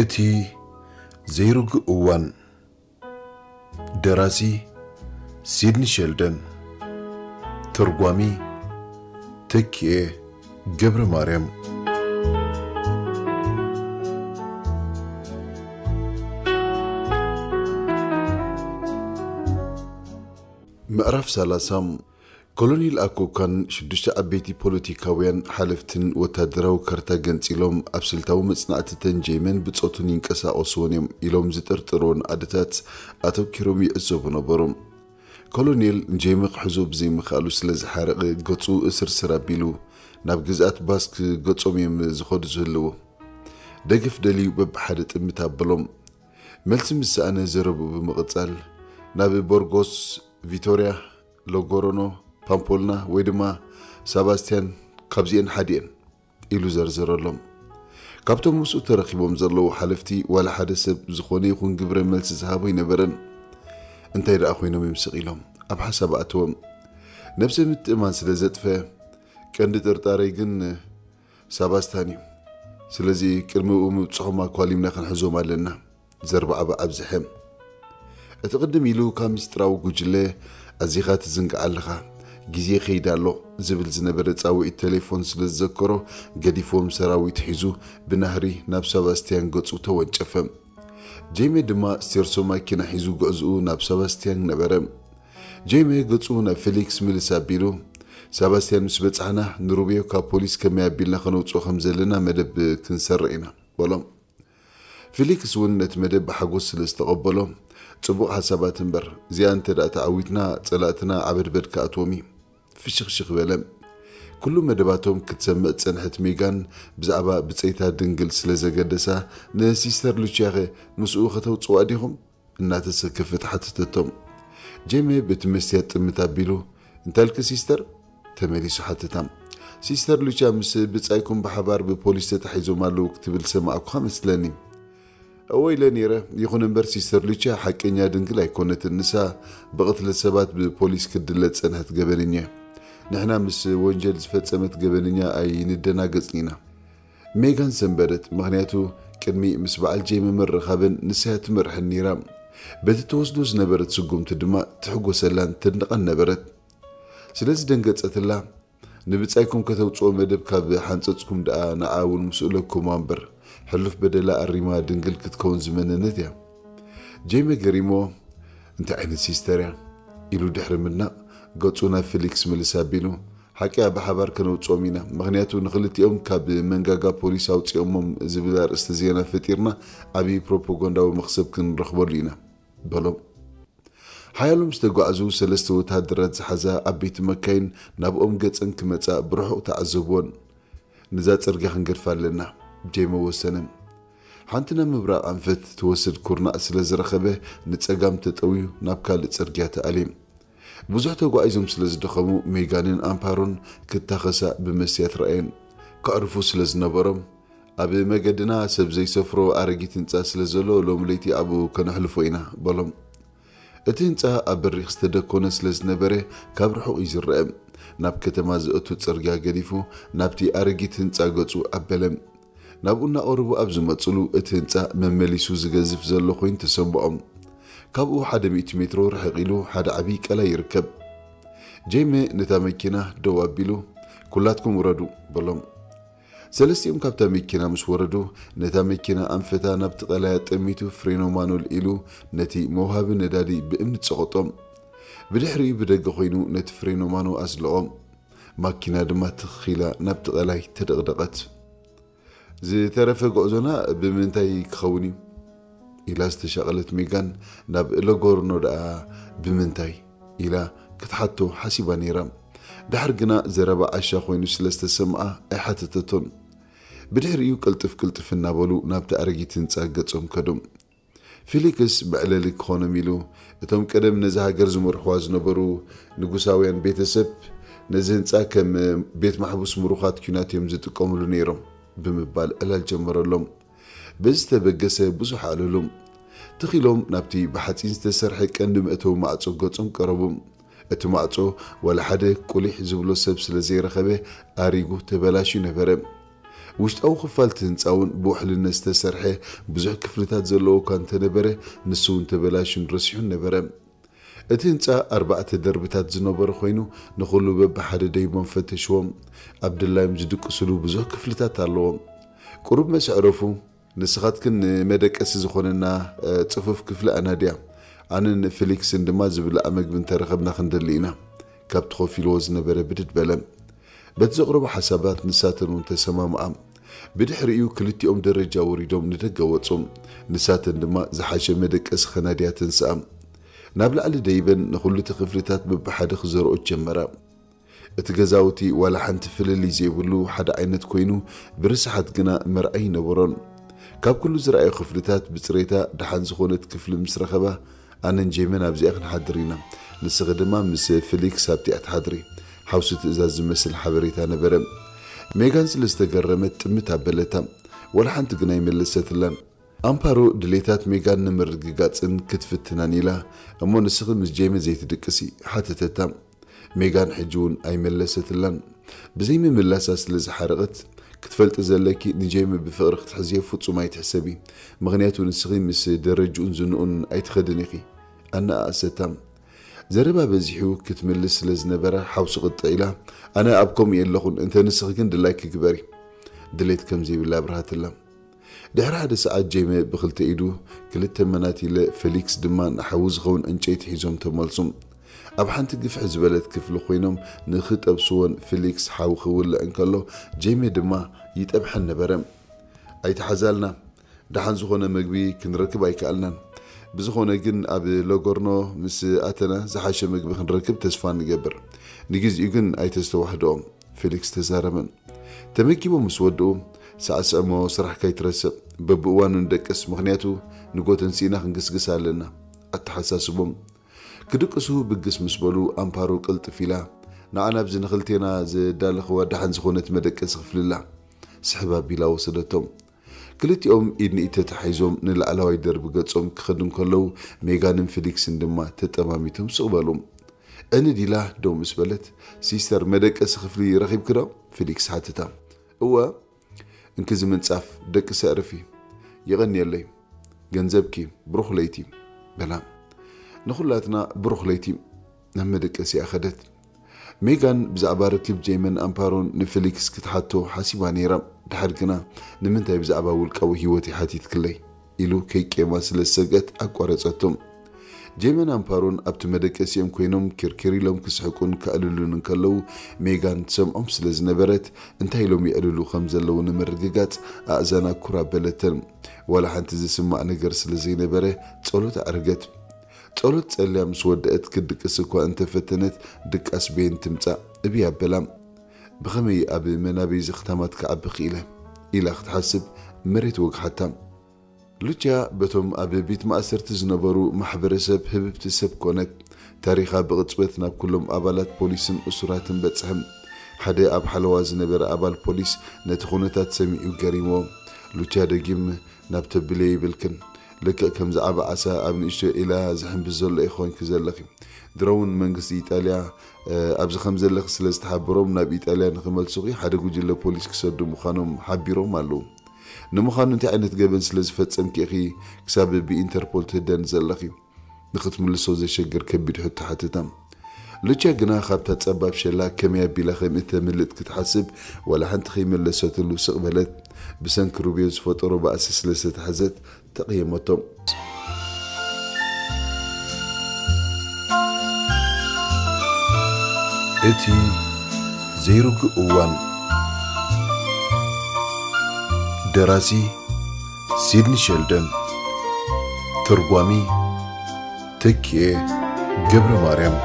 እቲ ዘይርጉእ እዋን ደራሲ ሲድኒ ሸልደን ተርጓሚ ተኪኤ ገብረማርያም ምዕራፍ ሰላሳ ኮሎኔል ኣኮካን ሽዱሽተ ዓበይቲ ፖለቲካውያን ሓለፍትን ወታደራዊ ካርታ ገንፂሎም ኣብ ስልታዊ መፅናዕቲ ተንጀይመን ብፆቱን ይንቀሳቐሱዎን እዮም ኢሎም ዝጥርጥሩዎን ዓድታት ኣተኪሮም ይዕዘቡ ነበሩ። ኮሎኔል ንጀይመ ክሕዞ ብዘይምኽኣሉ ስለ ዝሓረቐ ገፁ እስርስር ኣቢሉ ናብ ግዝኣት ባስክ ገፆም እዮም ዝኸዱ ዝህልዉ። ደገፍ ደልዩ በብሓደ ጥምት ኣበሎም። መልሲ ምስ ሰኣነ ዘረብኡ ብምቕፃል ናብ ቦርጎስ፣ ቪቶርያ፣ ሎጎሮኖ፣ ፓምፖልና ወይ ድማ ሳባስቲያን ካብዚኤን ሓዲኤን ኢሉ ዘርዘረሎም። ካብቶም ምስኡ ተረኺቦም ዘለዉ ሓለፍቲ ዋላ ሓደ ሰብ ዝኾነ ይኹን ግብረ መልሲ ዝሃቦ ኣይነበረን። እንታይ ደኣ ኮይኖም እዮም ስቕ ኢሎም? ኣብ ሓሳብ ኣእተወም። ነብሰ ምትእማን ስለ ዘጥፈ። ቀንዲ ጥርጣረይ ግን ሳባስታን እዩ። ስለዚ ቅድሚ ምብጽሖም ኣኳሊምና ክንሕዞም ኣለና። ዘርባዕባ ኣብዝሐ እቲ ቅድም ኢሉ ካብ ምስጢራዊ ጉጅለ ኣዚኻ ትዝንግዓ ኣለኻ ግዜ ከይዳ ኣሎ ዝብል ዝነበረ ጻውዒት ቴሌፎን ስለ ዝዘከሮ ገዲፎም ሰራዊት ሒዙ ብናህሪ ናብ ሰባስትያን ገጹ ተወንጨፈ። ጄሜ ድማ ስቴርሶ ማኪና ሒዙ ጉዕዝኡ ናብ ሰባስትያን ነበረ። ጄሜ ገጹ ናብ ፌሊክስ ምልስ ኣቢሉ ሰባስትያን ምስ በጻሕና ንሩቤዮ ካብ ፖሊስ ከመይ ኣቢልና ከነውጽኦ ከም ዘለና መደብ ክንሰርዕ ኢና በሎም። ፊሊክስ እውን ነቲ መደብ ብሓጎስ ስለ ዝተቐበሎ፣ ጽቡቕ ሓሳባት እምበር፣ እዚኣ እንተ ደኣ ተዓዊትና፣ ጸላእትና ዓበድበድ ክኣትዎም እዩ። ፍሽኽሽኽ በለ። ኵሉ መደባቶም ክትሰምዕ ዝጸንሐት ሜጋን ብዛዕባ ብጸይታ ድንግል ስለ ዘገደሳ፣ ንሲስተር ሉችያኸ ምስኡ ኸተውጽዋ ዲኹም? እናተሰከፈት ሓተተቶም። ጄሚ በቲ መስትያት ጥምት ኣቢሉ፣ እንታልኪ ሲስተር? ተመሊሱ ሓተታ። ሲስተር ሉቻ ምስ ብጻይኩም ብሓባር ብፖሊስ ተታሒዞም ኣለዉ ክትብል ዝሰማዕኩኻ መስለኒ። እወ ኢለ ነይረ፣ ይኹን እምበር ሲስተር ሉቻ ሓቀኛ ድንግል ኣይኮነትን፣ ንሳ ብቕትለት ሰባት ብፖሊስ ክትድለ ዝጸንሐት ገበነኛ'ያ። ንሕና ምስ ወንጀል ዝፈጸመት ገበነኛ ኣይንደናገጽን ኢና። ሜጋን ሰንበደት ምኽንያቱ ቅድሚ ምስ በዓል ጀይ ምምርኻበን ንሳያ ትመርሐን ነይራ በቲ ትወስዶ ዝነበረት ስጉምቲ ድማ ትሕጎሰላን ተድንቐን ነበረት ስለዚ ደንገጸትላ ንብጻይኩም ከተውጽኦ መደብ ካብ ሓንጸጽኩም ደኣ ንዓ እውን ምስኡ ለኩማ እምበር ሕሉፍ በደላ ኣሪማ ድንግል ክትከውን ዝመነነት እያ ጀይ መገሪሞ እንታይ ዓይነት ሲስተር እያ ኢሉ ድሕሪ ምድናቕ ገጹ ናብ ፊሊክስ ምልስ ኣቢሉ ሓቂያ ብሓባር ከነውጽኦም ኢና ምኽንያቱ ንኽልቲኦም ካብ መንጋጋ ፖሊስ ኣውጺኦሞም ዝብል ኣርእስቲ ዜና ፈጢርና ዓቢ ፕሮፖጋንዳዊ መኽሰብ ክንረኽበሉ ኢና በሎም። ሓያሎ ምስ ተጓዕዙ ሰለስተ ወተሃደራት ዝሓዛ ዓበይቲ መካይን ናብኦም ገጸን ክመጻ ብርሑቕ ተዓዘቡወን። ንዛ ጽርግያ ክንገድፋ ኣለና። ጀይሞ ወሰነ። ሓንቲ ናብ ምብራቕ ኣንፈት ትወስድ ኩርናዕ ስለ ዝረኸበ ንጸጋም ተጠውዩ ናብ ካልእ ጽርግያ ተኣልየ። ብዙሕ ተጓዒዞም ስለ ዝደኸሙ ሜጋንን ኣምፓሮን ክታኸሳ ብመስትያት ረኣየን። ከዕርፉ ስለ ዝነበሮም፣ ኣብ መገድና ሰብ ዘይሰፍሮ ኣረጊት ህንጻ ስለ ዘሎ ሎሚ ለይቲ ኣብኡ ከነሕልፎ ኢና፣ በሎም። እቲ ህንጻ ኣብ በሪኽ ዝተደኮነ ስለ ዝነበረ ካብ ርሑቕ እዩ ዝረኣ። ናብ ከተማ ዘእቱ ጽርግያ ገዲፉ ናብቲ ኣረጊት ህንጻ ገጹ ኣበለ። ናብኡ እናቐረቡ ኣብ ዝመፅሉ እቲ ህንፃ መመሊሱ ዝገዝፍ ዘሎ ኮይኑ ተሰምኦም። ካብኡ ሓደ ሚእቲ ሜትሮ ርሕቕ ኢሉ ሓደ ዓብዪ ቀላይ ይርከብ። ጀይመ ነታ መኪና ደው ኣቢሉ ኩላትኩም ውረዱ በሎም። ሰለስቲኦም ካብታ መኪና ምስ ወረዱ ነታ መኪና ኣንፈታ ናብቲ ቀላይ ኣጠሚቱ ፍሬኖ ማኖል ኢሉ ነቲ መውሃቢ ነዳዲ ብእምኒ ፀቐጦም። ብድሕሪኡ ብደገ ኮይኑ ነቲ ፍሬኖ ማኖ ኣዝለቖም። ማኪና ድማ ትኽ ኢላ ናብቲ ቀላይ ተደቕደቐት። ዝተረፈ ጉዕዞና ብምንታይ ክኸውን እዩ? ኢላ ዝተሻቐለት ሜጋን ናብ ለጎርኖ ደኣ ብምንታይ? ኢላ ክትሓቶ ሓሲባ ነይራ። ደሓር ግና ዘረባ ዓሻ ኮይኑ ስለ ዝተሰምዓ ኣይሓተተቶን። ብድሕሪኡ ቅልጥፍ ቅልጥፍ እናበሉ ናብቲ ኣረጊት ህንጻ ገጾም ከዱ። ፊሊክስ መዕለሊ ክኾኖም ኢሉ፣ እቶም ቀደም ነዛ ሃገር ዝመርሑዋ ዝነበሩ ንጉሳውያን ቤተሰብ ነዚ ህንጻ ከም ቤት ማሕቡስ ምሩኻት ኲናት እዮም ዝጥቀሙሉ ነይሮም ብምባል ዕላል ጀመረሎም። በዚ ዝተበገሰ ብዙሕ ኣዕለሉ። ትኽ ኢሎም ናብቲ ብሓጺን ዝተሰርሐ ቀንዲ መእተዊ ማዕጾ ገጾም ቀረቡ። እቲ ማዕጾ ዋላ ሓደ ቁሊሕ ዝብሎ ሰብ ስለ ዘይረኸበ ኣሪጉ ተበላሽዩ ነበረ። ውሽጣዊ ክፋል እቲ ህንጻ'ውን ብውሕልነት ዝተሰርሐ ብዙሕ ክፍልታት ዘለዎ እኳ እንተነበረ፣ ንሱ'ውን ተበላሽዩን ረሲሑን ነበረ። እቲ ህንጻ ኣርባዕተ ደርብታት ዝነበሮ ኮይኑ፣ ንኹሉ በብሓደ ደይቦም ፈተሽዎ። ኣብ ድላዮም ዝድቅሱሉ ብዙሕ ክፍልታት ኣለዎ። ቁሩብ መሰዕረፉ፣ ንስኻትክን ንመደቀሲ ዝኾነና ጽፉፍ ክፍሊ ኣናድያ፣ ኣነን ፊሊክስን ድማ ዝብላዕ መግቢ እንተ ረኸብና ክንደሊ ኢና። ካብቲ ኮፍ ኢልዎ ዝነበረ ብድድ በለ። በቲ ዘቕረቦ ሓሳባት ንሳተን እውን ተሰማምዓ። ብድሕሪኡ ክልቲኦም ደረጃ ወሪዶም ንደገ ወጹ። ንሳተን ድማ ዝሓሸ መደቀሲ ከናድያ ተንስኣ። ናብ ላዕሊ ደይበን ንኹሉ እቲ ክፍልታት በብሓደ ክዘርኦ ጀመራ። እቲ ገዛውቲ ዋላ ሓንቲ ፍልልይ ዘይብሉ ሓደ ዓይነት ኮይኑ ብርስሓት ግና መርዓ ኣይነበሮን። ካብ ኩሉ ዝረኣዮ ክፍልታት ብጽሬታ ደሓን ዝኾነት ክፍሊ ምስ ረኸባ ኣነን ጄመን ኣብዚኣ ክንሓድር ኢና ንስኺ ድማ ምስ ፍሊክስ ኣብቲኣ ትሓድሪ ሓውሲ ትእዛዝ ዝመስል ሓበሬታ ነበረ። ሜጋን ስለ ዝተገረመት ጥምት ኣበለታ ዋላ ሓንቲ ግና ኣይመለሰትላን። ኣምፓሮ ድሌታት ሜጋን ንምርግጋጽን ክትፍትናን ኢላ እሞ ንስኺ ምስ ጄሚ ዘይትድቅሲ? ሓተተታ። ሜጋን ሕጂ'ውን ኣይመለሰትላን። ብዘይምምላሳ ስለ ዝሓረቐት፣ ክትፈልጢ ዘለኪ ንጄሚ ብፍቕሪ ክትሕዝዮ ፍጹም ኣይትሕሰቢ፣ ምኽንያቱ ንስኺ ምስ ደረጅኡን ዝንኡን ኣይትኸድን ኢኺ። ኣነኣኣሰታ። ዘረባ በዚሑ ክትምልስ ስለ ዝነበራ ሓውሲ ቅጥዕ ኢላ፣ ኣነ ኣብ ከምኡ የለኹን፣ እንተ ንስኺ ግን ድላይኪ ግበሪ። ድሌት ከም ዘይብላ ኣብርሃትላ። ድሕሪ ሓደ ሰዓት ጄሜ ብኽልተ ኢዱ ክልተ መናቲለ፣ ፌሊክስ ድማ ንሓዊ ዝኸውን ዕንጨይቲ ሒዞም ተመልሱ። ኣብ ሓንቲ ግፍሕ ዝበለት ክፍሊ ኮይኖም ንኽጠብስዎን ፌሊክስ ሓዊ ክውልዕ እንከሎ ጄሜ ድማ ይጠብሐን ነበረ። ኣይተሓዛልና። ደሓን ዝኾነ መግቢ ክንረክብ ኣይከኣልናን። ብዝኾነ ግን ኣብ ሎጎርኖ ምስ ኣተና ዝሓሸ መግቢ ክንረክብ ተስፋ ንገብር። ንግዜኡ ግን ኣይተስተዋሕድኦ። ፊሊክስ ተዛረበን ተመጊቦም ምስ ወድኡ፣ ሳዕስዕ'ሞ ስራሕ ከይትረስዕ፣ በብእዋኑ ንደቅስ ምኽንያቱ ንግሆ ተንሲእና ክንግስግስ ኣለና ኣተሓሳስቦም። ክድቅሱ ብግስ ምስ በሉ ኣምፓሩ ቅልጥፍ ኢላ ንዓ ናብዚ ንኽልቴና ዘዳለኽዋ ደሓን ዝኾነት መደቀሲ ክፍሊ'ላ ስሕብ ኣቢላ ወሰደቶም። ክልቲኦም ኢድ ንኢድ ተታሒዞም ንላዕለዋይ ደርቢ ገጾም ክኸዱ እንከለዉ፣ ሜጋንን ፊሊክስን ድማ ተጠማሚቶም ስቕ በሉ። ዕንድ ኢላ ደው ምስ በለት፣ ሲስተር፣ መደቀሲ ክፍሊ ረኺብኪዶ? ፊሊክስ ሓተታ። እወ፣ እንኪ እዚ ምንጻፍ ደቅሲ ኣዕርፊ። የቐንየለይ። ገንዘብኪ። ብሩኽ ለይቲ። በላ። ንዅላትና ብሩኽ ለይቲ። ናብ መደቀሲኣ ከደት። ሜጋን ብዛዕባ ርክብ ጀይምን ኣምፓሮን ንፊሊክስ ክትሓቶ ሓሲባ ነይራ፣ ድሓር ግና ንምንታይ ብዛዕባ ውልቃዊ ህይወተይ ሓቲትክለይ? ኢሉ ከይቄማ ስለ ዝሰግአት ኣቋረጸቶ። ጀይምን ኣምፓሮን ኣብቲ መደቀሲኦም ኰይኖም ኪርኪር ኢሎም ክስሕቁን ከዕልሉን እንከለዉ ሜጋን ትሰምዖም ስለ ዝነበረት እንታይ ኢሎም የዕልሉ ከም ዘለዉ ንምርግጋጽ ኣእዛና ኩር ኣበለተን። ዋላ ሓንቲ ዝስማዕ ነገር ስለ ዘይነበረ ጸሎት ኣዕረገት። ጸሎት ጸልያ ምስ ወደእት ክትድቅስ እኳ እንተ ፈተነት፣ ድቃስ በየን ትምጻእ? እብይ ኣበላ። ብኸመይ ኣብ መናብይ ዘኽታማት ክዓቢ ክኢለ? ኢላ ክትሓስብ መሬት ወግሓታ። ሉችያ በቶም ኣብ ቤት ማእሰርቲ ዝነበሩ ማሕበረሰብ ህብብቲ ሰብ ኰነት። ታሪኻ ብቕጽበት ናብ ኵሎም ኣባላት ፖሊስን እሱራትን በጽሐ። ሓደ ኣብ ሓለዋ ዝነበረ ኣባል ፖሊስ ነቲ ዅነታት ሰሚዑ ገሪምዎ። ሉችያ ደጊም ናብ ተብልዮ ይብልክን ልክዕ ከምዚ ዓቢ ዓሳ ኣብ ንእሽቶ ዒላ ዝሕንብስ ዘሎ ኢኺ ኮንኪ ዘለኺ። ድሮውን መንግስቲ ኢጣልያ ኣብዚ ከምዘለኺ ስለ ዝተሓበሮም ናብ ኢጣልያ ንኽመልሱኺ ሓደ ጉጅለ ፖሊስ ክሰዱ ምዃኖም ሓቢሮም ኣለዉ። ንምዃኑ እንታይ ዓይነት ገበን ስለ ዝፈጸምኪ ኢኺ ክሳብ ብኢንተርፖል ትህደኒ ዘለኺ? ንኽትምልሶ ዜሸግር ከቢድ ሕቶ ሓተታ። ሉቻ ግና ኻብታ ጸባብ ሸላ ከመይ ኣቢላ ኸም እተምልጥ ክትሓስብ ዋላ ሓንቲ ኸይመለሰትሉ ስቕ በለት። ብሰንኪ ሩቤል ዝፈጠሮ ባእሲ ስለ ዝተታሕዘት ተቐየመቶ። እቲ ዘይርጉእ እዋን ደራሲ ሲድኒ ሸልደን ተርጓሚ ተኪኤ ገብረ ማርያም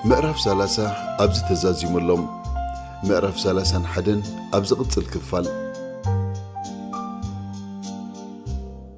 ምዕራፍ ሰላሳ ኣብዚ ተዛዚሙሎም ምዕራፍ ሰላሳን ሓደን ኣብ ዝቕፅል ክፋል